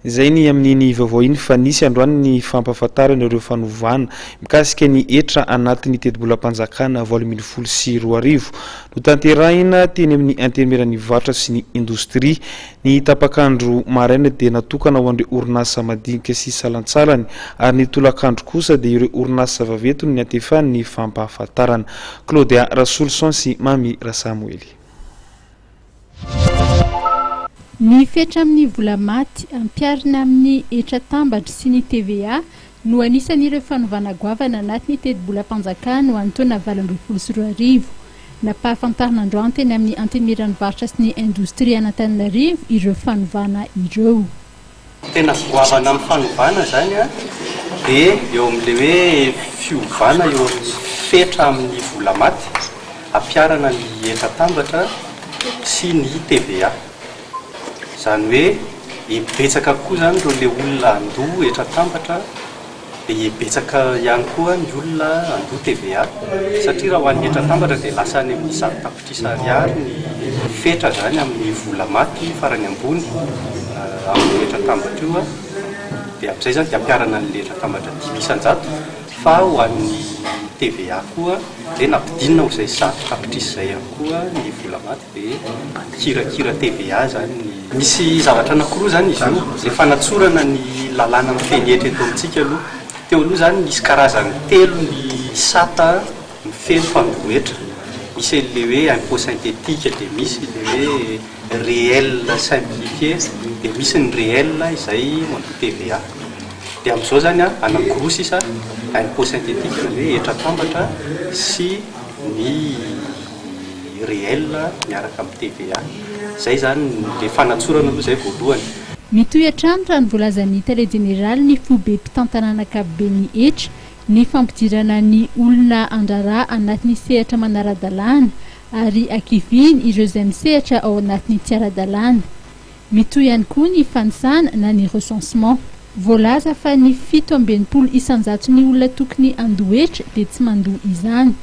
Izay ny amin'iny vaovao iny fa nisy androany ny fampahafantarana ireo fanovana mikasika ny hetra anatin'ny tetibolam-panjakana valo ambin'ny folo sy roa arivo. Notanterahina teny amin'ny Antenimieran'ny varotra sy ny indostria. Ny tapak'andro maraina dia natokana ho an'ireo orinasa madinika sy salantsalany ary ny tolakandro kosa dia ireo orinasa vaventy no niantefan'ny fampahafantarana. Claudia Rasolison sy Mamy Rasamoely. Ny fetra amin'ny vola maty, ampiharina amin'ny hetra tambatry sy ny TVA, no anisan'ireo fanovana goavana anaty ny tetibolam-panjakana ho an'ny taona valo ambin'ny folo sy roa arivo. Nampahafantarina androany teny amin'ny Antenimieran'ny varotra sy ny indostria an'Antananarivo ireo fanovana ireo. Tena goavana amin'ny fanovana izany dia eo amin'ilay hoe fiovana eo amin'ny fetra amin'ny vola maty, hampiharana ny hetra atambatra sy ny TVA. Izany hoe, betsaka kokoa izany ireo le olona handoa hetra atambatra. Dia betsaka ihany koa ny olona handoa TVA satria raha ho an'ny hetra atambatra dia lasa any amin'ny zato tapitrisa ariary ny fetra izany amin'ny vola maty farany ambony amin'io hetra atambatra io dia amin'izay izany dia hampiharana an'ilay hetra atambatra dimy isan-jato fa ho an'ny TVA koa dia nampidinina ho izay zato tapitrisa izay ihany koa ny vola maty. Dia mpikirakira TVA izany ny. Misy zavatra anankiroa izany izy io, izay fanatsorana ny lalàna mifehy hetra eto amintsika aloha. Teo aloha izany nisy karazany telo ny sata mifehy fandoa hetra. Misy an'ilay hoe impôt synthétique, dia misy ilay hoe réel simplifié, dia misy ny réel izay mandoa TVA. Dia amin'izao izany an, anankiroa sisa, impôt synthétique, izany hoe hetra atambatra, sy ny. ny réel miaraka amin'ny TVA. Izay izany, ilay fanatsorana aloha izay voalohany. Mitohy hatrany raha ny voalazan'ny Tale Jeneraly ny Foibe Mpitantanana Ankapoben'ny hetra, ny fampidirana ny olona an-draharaha anatin'ny sehatra manara-dalàna ary hakiviany ireo izay misehatra ao anatin'ny tsy ara-dalàna. Mitohy ihany koa ny fanisana na ny recensement. Voalaza fa ny fito amby enimpolo isan-jaton'ny olona tokony handoa hetra dia tsy mandoa izany.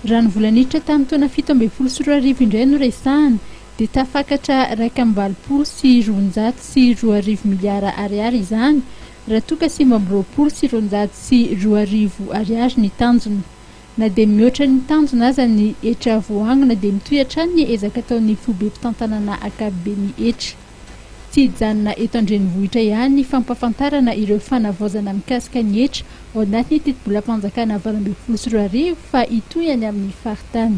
Raha ny vola niditra tamin'ny taona fito ambin'ny folo sy roa arivo indray no resahana dia tafakatra iraika amby valopolo sy roanjato sy roa arivo miliara ariary izany raha toa ka sivy amby roapolo sy roanjato sy roa arivo ariary ny tanjona. Na dia mihoatra ny tanjona aza ny hetra voaangona dia mitohy hatrany ny ezaka ataon'ny foibe mpitantanana ankapobeny hetra. Tsy hijanona eto an-drenivohitra ihany ny fampahafantarana ireo fanavaozana mikasika ny hetra ao anatin'ny tetibolam-panjakana valo ambin'ny folo sy roa arivo fa hitohy any amin'ny faritany.